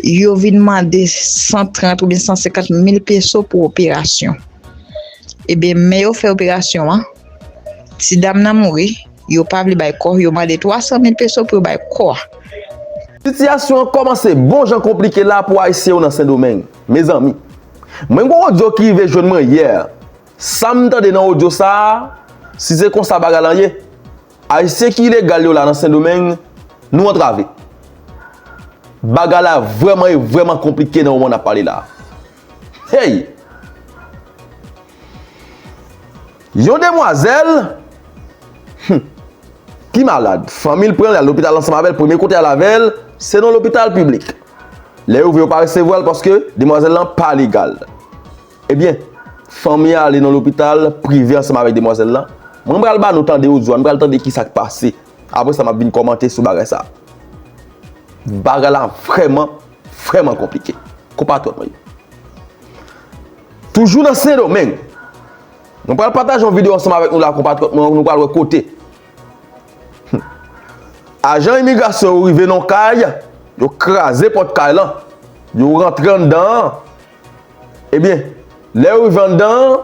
Yo vin mande 130 oubyen 150 mil peso pou operasyon. Ebyen, men yo fè operasyon an, ti dam nan mouri, yo pa vle bay kò, yo mande 300 mil peso pou yo bay kò a. Sitiyasyon an kòmanse bon jan konplike la pou Ayisyen yo nan Sendomeng. Mezanmi! Mwen gen yon odyo ki rive jwenn mwen yè, sa m tande nan odyo sa a, si se konsa bagay lan ye, Ayisyen ki ilegal yo la nan sendomeng nou antrave bagay la vreman e vreman konplike nan moman nap pale la hey yon demwazel humm ki malad fanmil pranl al lopital ansanm avel premye kote al avel se nan lopital piblik lè yo vwe yo pa resevwal paske demwazel lan pa legal. Ebyen, fanmi a ale nan lopital prive ansanm avèk demwazèl lan. Mwen pral ba nou tande odyo a, nou pral tande ki sa k pase. Apre sa, m ap vin kòmante sou bagay sa a. Bagay la vrèman, vrèman konplike, konpatriyòt mwen yo. Toujou nan Sendomeng, mwen pral pataje yon videyo ansanm avèk nou la, konpatriyòt mwen yo, nou pral wè kote ajan imigrasyon yo rive nan yon kay, yo kraze pòt kay lan, yo rantre anndan an. Ebyen, lè yo rive anndan an,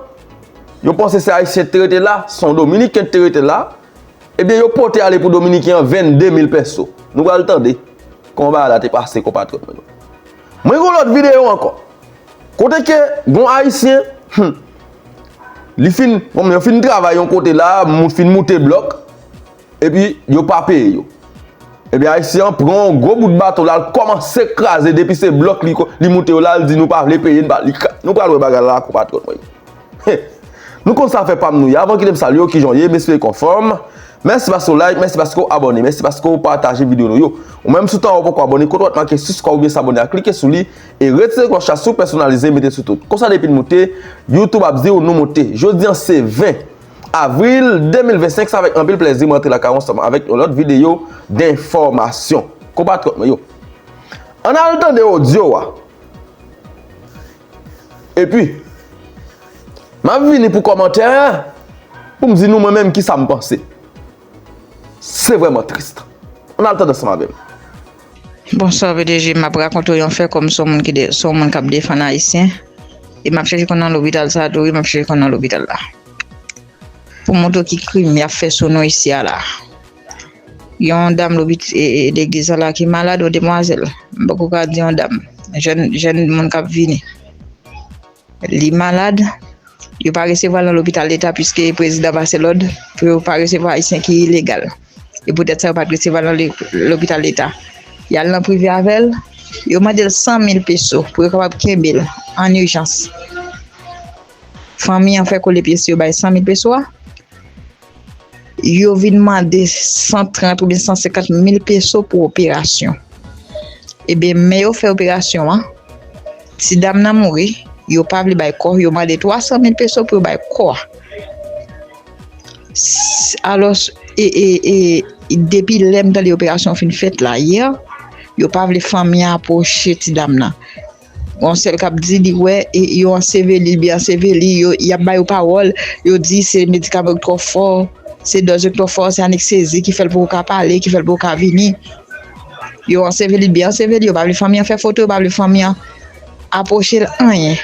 yo panse se Ayisyen ki te rete la, se yon Dominiken ki te rete la, ebyen yo pote ale pou Dominiken an 22 mil pèso. Nou pral tande kòman bagay la te pase konpatriyòt mwen yo. Mwen gen yon lòt videyo ankò, kote ke gen yon Ayisyen, hum, li fin, bon men yo fin travay yon kote la, moun fin moute blòk, Epi yo pa peye yo. Ebyen ayisyen an pran yon gwo bout bato la l kòmanse kraze depi se blòk li moute yo la l di nou pa vle peye nou pral wè bagay la konpatriyòt mwen yo. Nou konn sa fè pam nou ye avan kite m salye w kijan w ye m espere ke w anfòm mèsi paske w like mèsi paske w abòne mèsi paske w pataje videyo nou yo ou menm si w ta wè w poko abòne kote w wap make siskrayb oubyen sabòne a klike sou li e retire klòch la si w pèsonalize mete sou tout konsa depi n moute youtube ap di w nou moute jodi an se 20. Avril 2025 sa avèk anpil plèzi mwen antre lakay ou ansanm avèk yon lòt videyo denfòmasyon konpatriyòt mwen yo ann al tande odyo a epi map vini pou kòmantè poum di nou mwen menm kisa m panse. Se vreman triste. An al tande ansanm avem. Bonswa pdg map rakonte w yon fè kòm son moun ki son moun kap defann ayisyen e map chèche konn nan lopital sa tou wi map chèche konn nan lopital la pou montre w ki krim yap fè sou nou isi a la yon dam legliz sa la ki malad yon demwazèl m poko ka di yon dam jèn jèn moun kap vini Li malad, yo pa resevwa l nan lopital leta piske prezidan pase lòd pou yo pa resevwa ayisyen ki ilegal. E poutèt sa yo pa t resevwa l nan lopital leta. Y al nan prive avè l, yo mande l 100 mil peso pou yo kapab kenbe l an ijans. Fanmi an fè kole pye sou yo bay 100 mil peso a. Yo vin mande 130 oubyen 150 mil peso pou operasyon. Ebe, men yo fè operasyon an, ti dam nan mouri, yo pa vle bay kò, yo mande 300 mil peso pou yo bay kò a. Alòs, e, e, e, depi lè m tande operasyon an fin fèt la, yè, yo pa vle fanmi an apwoche ti dam nan. Gon sèl kap di li wè yo anseveli li byen anseveli yo yap ba yo pawòl yo di se medikaman yo k twò fò se dòz yo k twò fò se aneksezi ki fèl poko ka pale ki fèl poko ka vini yo anseveli li byen anseveli yo pa vle fanmi an fè foto yo pa vle fanmi an apwochel anyen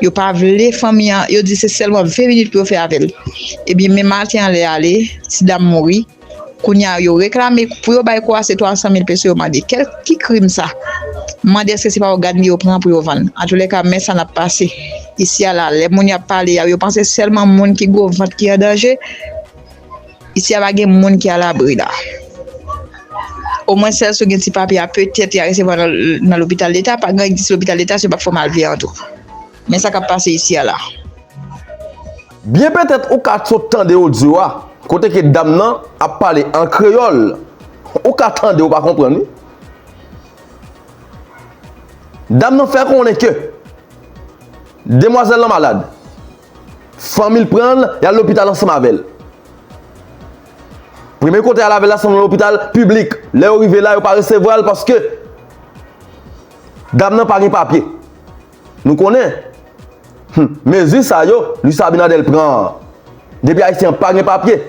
yo pa vle fanmi an yo di se sèlman 20 minit pou yo fè avèl ebyen men maten an lèy ale ti dam mouri. Kounye a yo reklame pou yo bay Kouwase 300 mil peso yo mande kè ki krim sa? M mande èske se pa ògàn li yo pran pou yo vann? Antoulèka men sa n ap pase isi a la lè moun yo ap pale a yo panse sèlman moun ki gwo vant ki an danje isi a pa gen moun ki alabri la omwen sèl si w gen ti papye a petèt y a resevwa w nan lopital leta pa gen si lopital leta se yo p ap fè w malveyan tou. Men sa kap pase isi a la. Byen petèt ou ka sot tande odyo a kote ke dam nan ap pale an kreyòl ou ka tande ou pa konprann wi. Dam nan fè konnen ke demwazèl lan malad, fanmi l pran l yal lopital ansanm avè l. Premye kote yal avè l la se nan lopital piblik, lè yo rive la yo pa resevwa l paske dam nan pa gen papye. Nou konnen Hum mezi sa yo Luis Abinader pran an Depi ayisyen an pa gen papye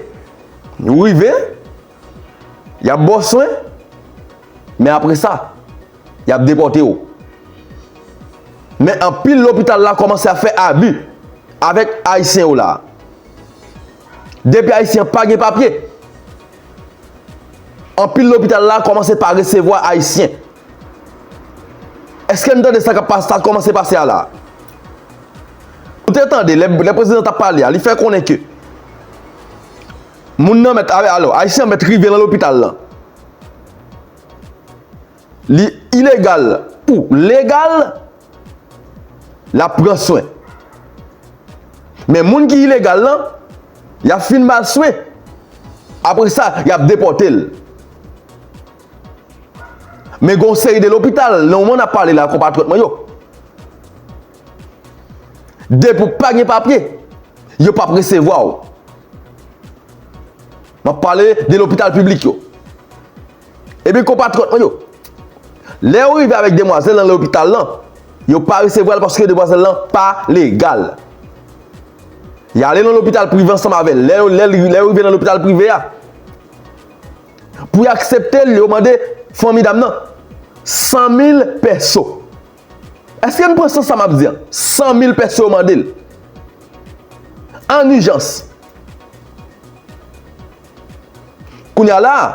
Ou rive Yap ba w swen Men apre sa Yap depòte w Men anpil lopital la kòmanse ap fè abi Avèk ayisyen yo la Depi ayisyen an pa gen papye Anpil lopital la kòmanse pa resevwa ayisyen Eske n tande sa kap pase, sa kòmanse pase a la? Ou te tande lè prezidan tap pale a, li fè konnen ke moun nan mèt, alò, ayisyen an mèt rive nan lopital lan. Li ilegal ou legal, lap pran swen. Men moun ki ilegal lan, yap fin ba l swen, apre sa, yap depòte l. Men gen yon seri de lopital nan moman nap pale la konpatriyòt mwen yo depi ou pa gen papye yo pap resevwa ou map pale de lopital piblik yo ebyen konpatriyòt mwen yo lè ou rive avèk demwazèl nan lopital lan yo pa resevwal paske demwazèl lan pa legal yale nan lopital prive ansanm avèl lè ou rive nan lopital prive a. Pou y aksepte l, yo mande fanmi dam nan 100 mil pèso. Èske n pran sans sa m ap di an? 100 mil pèso yo mande l. An ijans. Kounye a la a,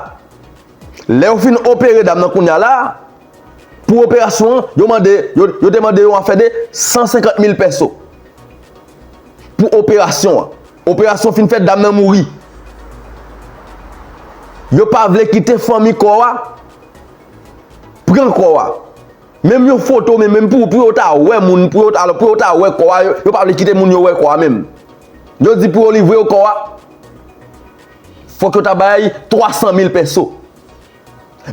lè yo fin opere dam nan kounye a la a, pou operasyon an, yo mande, yo te mande yon afè de 150 mil pèso pou operasyon an. Operasyon fin fèt dam nan mouri. Yo pa vle kite fanmi kò a pran kò a. Menm yon foto menm menm pou yo ta wè moun pou yo ta wè kò a yo pa vle kite moun yo wè kò a menm. Yo di pou yo livre yo kò a fòk yo ta bay 300 mil pèso.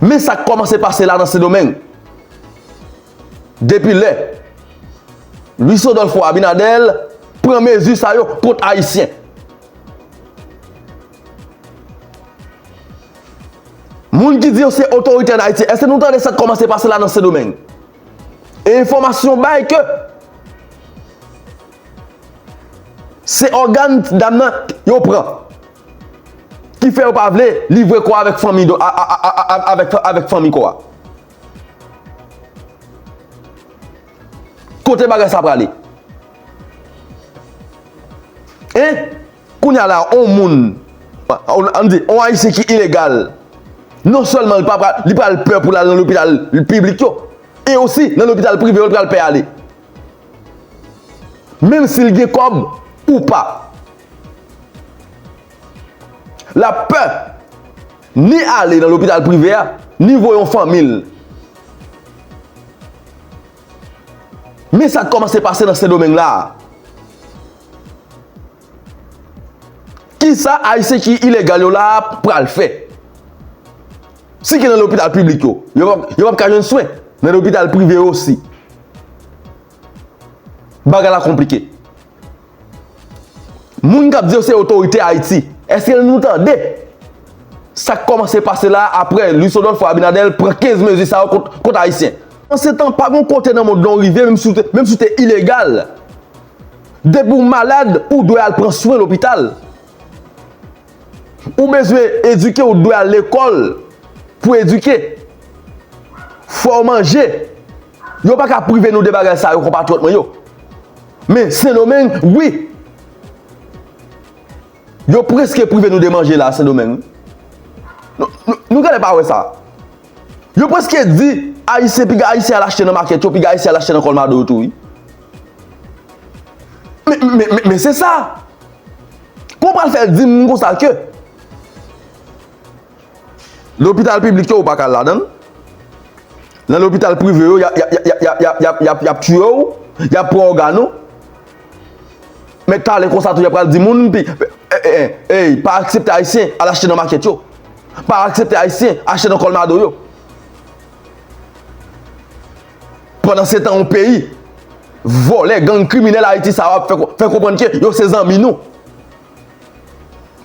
Men sa k kòmanse pase la nan Sendomeng. Depi lè Luis Rodolfo Abinader pran mezi sa yo kont Ayisyen. Moun ki di yo se otorite an Ayiti, èske nou tande sa k kòmanse pase la nan Sendomeng? E enfòmasyon bay ke se ògàn dam nan yo pran ki fè yo pa vle livre kò a avèk fanmi kò a. Kote bagay sa prale? Hein? Kounya la a on moun, an di on ayisyen ki ilegal, non sèlman li pa pral, li pral pè pou l'al nan lopital piblik yo, e osi nan lopital prive yo li pral pè ale. Menm si li gen kòb ou pa. L'ap pè. Ni ale nan lopital prive a, ni voye yon fanmi l. Men sa k kòmanse pase nan Sendomeng la a. Kisa Ayisyen ki ilegal yo la a pral fè? Si gen nan lopital piblik yo, yo p ap ka jwenn swen nan lopital prive yo osi. Bagay la konplike. Moun kap di yo se otorite Ayiti, eske nou tande sak komanse pase la apre Louis Odolpho Abinader pran 15 mezi sa yo kont Ayisyen? Pansetan, pa gon kote nan mond lan ou rive menm si ou te ilegal, depi ou malad ou dwe al pran swen lopital. Ou bezwen edike ou dwe al lekòl pou edike. Fò ou manje, Yo pa ka prive nou de bagay sa yo konpatriyòt mwen yo. Men Sendomeng wi. Yo preske prive nou de manje la Sendomeng wi. Nou genlè pa wè sa. Yo preske di Ayisyen piga Ayisyen al achte nan makèt yo, piga Ayisyen al achte nan kòlmado yo tou wi. Men se sa. Pou w pral fè di m konsa ke. Lopital piblik yo ou paka al ladanl. Nan lopital prive yo yap tiye ou, yap pran ògàn ou. Met pale konsa tou yap pral di moun pi ey pa aksepte ayisyen al achte nan makèt yo. Pa aksepte ayisyen achte nan kòlmado yo. Pandan setan yon peyi vòlè gang kriminèl ayiti sa yo ap fè konprann ke yo se zanmi nou.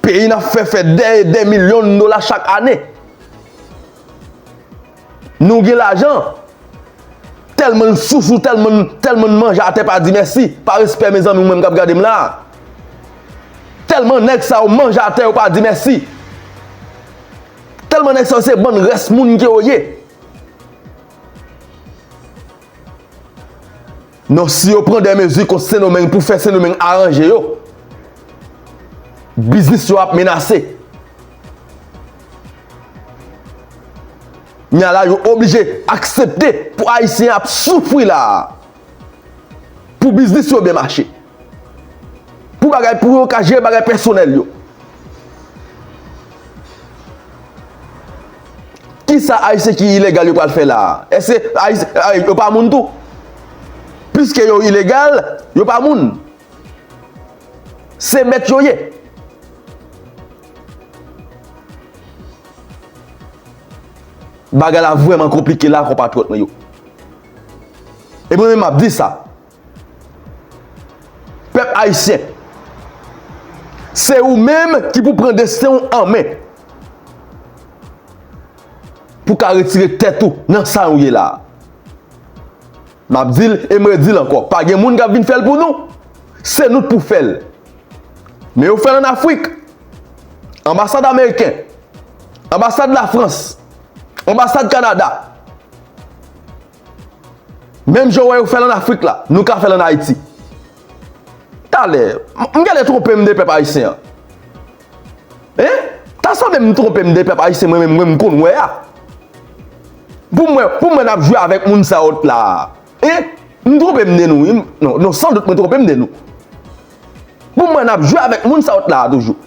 Peyi n ap fè fè dè e dè milyon dola chak ane. Nou gen lajan, tèlman n sousou, tèlman n manje atè pa di mèsi, pa respè mezanmi ou menm k ap gade m la a. Tèlman nèg sa yo manje atè yo pa di mèsi. Tèlman nèg sa yo se bann rès moun ke yo ye. Non si yo pran de mezi kont Sendomeng pou fè Sendomeng aranje yo, biznis yo ap menase. N a la yo oblije aksepte pou Ayisyen ap soufri la a pou biznis yo byen mache. Pou bagay pou yo ka jere bagay pèsonèl yo. Kisa Ayisyen ki ilegal yo pral fè la a? Èske Ayisyen yo pa moun tou? Piske yo ilegal, yo pa moun? Se bèt yo ye. Bagay la vrèman konplike la a konpatriyòt mwen yo. E mwen menm m ap di sa. Pèp Ayisyen, se ou menm ki pou pran desten ou an men. Pou ka retire tèt ou nan sa ou ye la. M ap di l e m redi l ankò, pa gen moun k ap vin fè l pou nou. Se nou k pou fè l. Men yo fè l an Afrik. Anbasad Ameriken, Anbasad Lafrans, Anbasad Kanada. Menm jan w wè yo fè l an Afrik la, nou ka fè l an Ayiti. Talè, m genlè twonpe m de pèp ayisyen an. Hein? Ta sanble m twonpe m de pèp ayisyen mwen menm m konn wè a. Pou mwen, pou mwen n ap jwe avèk moun sa yo t la a. Hein? M twonpe m de nou wi. Non, non san dout mwen twonpe m de nou. Pou mwen n ap jwe avèk moun sa yo t la a toujou.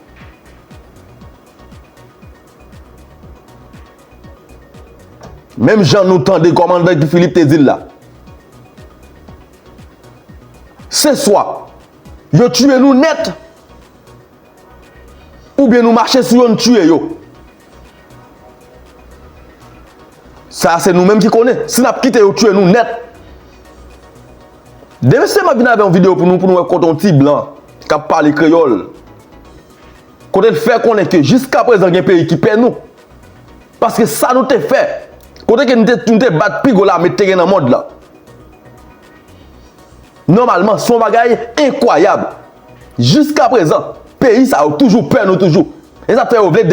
Menm jan nou tande kòmandan Guy Philippe te di l la. Se swa yo tiye nou nèt oubyen nou mache sou yo n tiye yo. Sa a se nou menm ki konnen. Si n ap kite yo tiye nou nèt. Demen se map vin avè yon videyo pou nou pou nou wè kote yon ti blan k ap pale kreyòl. Kote l fè konnen ke jiskaprezan gen peyi ki pè nou. Paske sa nou te fè, kote ke nou te bat pi gwo lame te gen nan mond lan. Nòmalman, son bagay enkwayab. Jiskaprezan, peyi sa yo toujou pè nou toujou. E sa k fè yo vle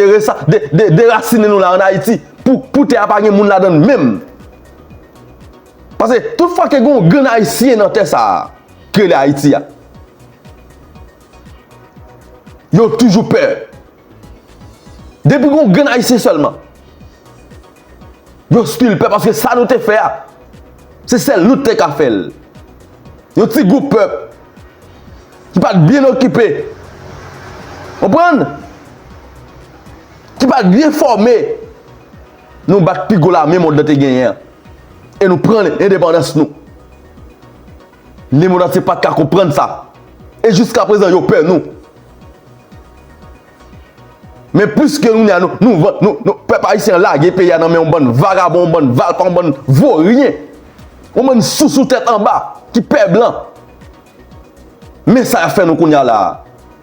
derasinen nou la an Ayiti pou tè a pa gen moun ladan l menm. Paske tout fwa ke gen yon grenn Ayisyen nan tè sa a, ki rele Ayiti a. Yo toujou pè. Depi gon grenn ayisyen sèlman. Yo stil pè paske sa nou te fè a. Se sèl nou te ka fèl. Yo ti gwoup pèp. Ki pat byen okipe. Konprann? Ki pat byen fòme. Nou bat pi gwo lame mond lan te genyen. E nou pran endepandans nou. Le monde antye pat ka konprann sa. E jiska prezan yo pè nou. Men plis ke kounye a nou, nou van, nou, nou, pèp ayisyen an lage peyi a nan men yon bann vagabon, yon bann valpa, yon bann voryen. Yon bann sousou tèt anba ki pè blan. Men sa y ap fè nou kounye a la a.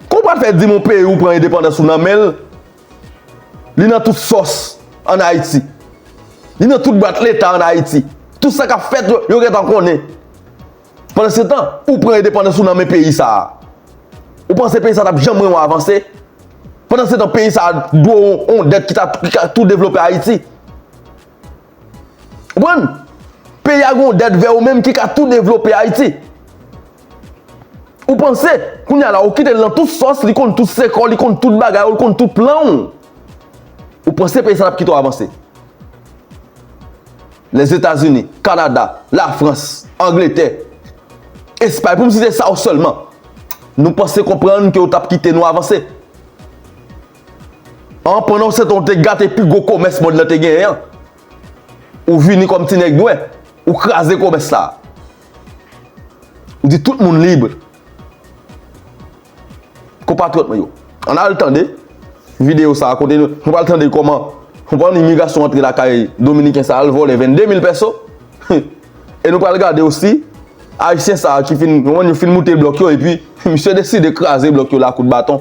Kou w pral fè di m yon peyi ou pran endepandans ou nan men l, Li nan tout sòs an Ayiti. Li nan tout bwat leta an Ayiti. Tout sa k ap fèt yo, yo gen tan konnen. Pandansetan, ou pran endepandans ou nan men peyi sa a. Ou panse peyi sa a t ap janm renmen w avanse? Pandansetan, peyi sa a dwe w yon dèt ki ka tou devlope Ayiti. Ou konprann? Peyi a gen yon dèt vè ou menm ki ka tou devlope Ayiti. Ou panse, kounye a la ou kite l nan tout sòs, li konn tout sekò, li konn tout bagay ou, li konn tout plan ou. Ou panse peyi sa l ap kite ou avanse. Lèzetazini, Kanada, Lafrans, Angletè, Espay pou m site sa yo sèlman. Nou panse konprann ke yo t ap kite nou avanse? An pandan w se tan w te gate pi gwo komès mond lan te genyen an, ou vini kòm ti nèg nwè, ou kraze komès sa. Ou di tout moun lib. Konpatriyòt mwen yo, ann al tande videyo sa a kote nou pral tande kòman yon bann imigrasyon antre lakay dominiken sa a al vòlè 22 mil pèso. E nou pral gade osi ayisyen sa a ki fin yon moun yo fin moute blòk yo epi misye deside kraze blòk yo la a kout baton.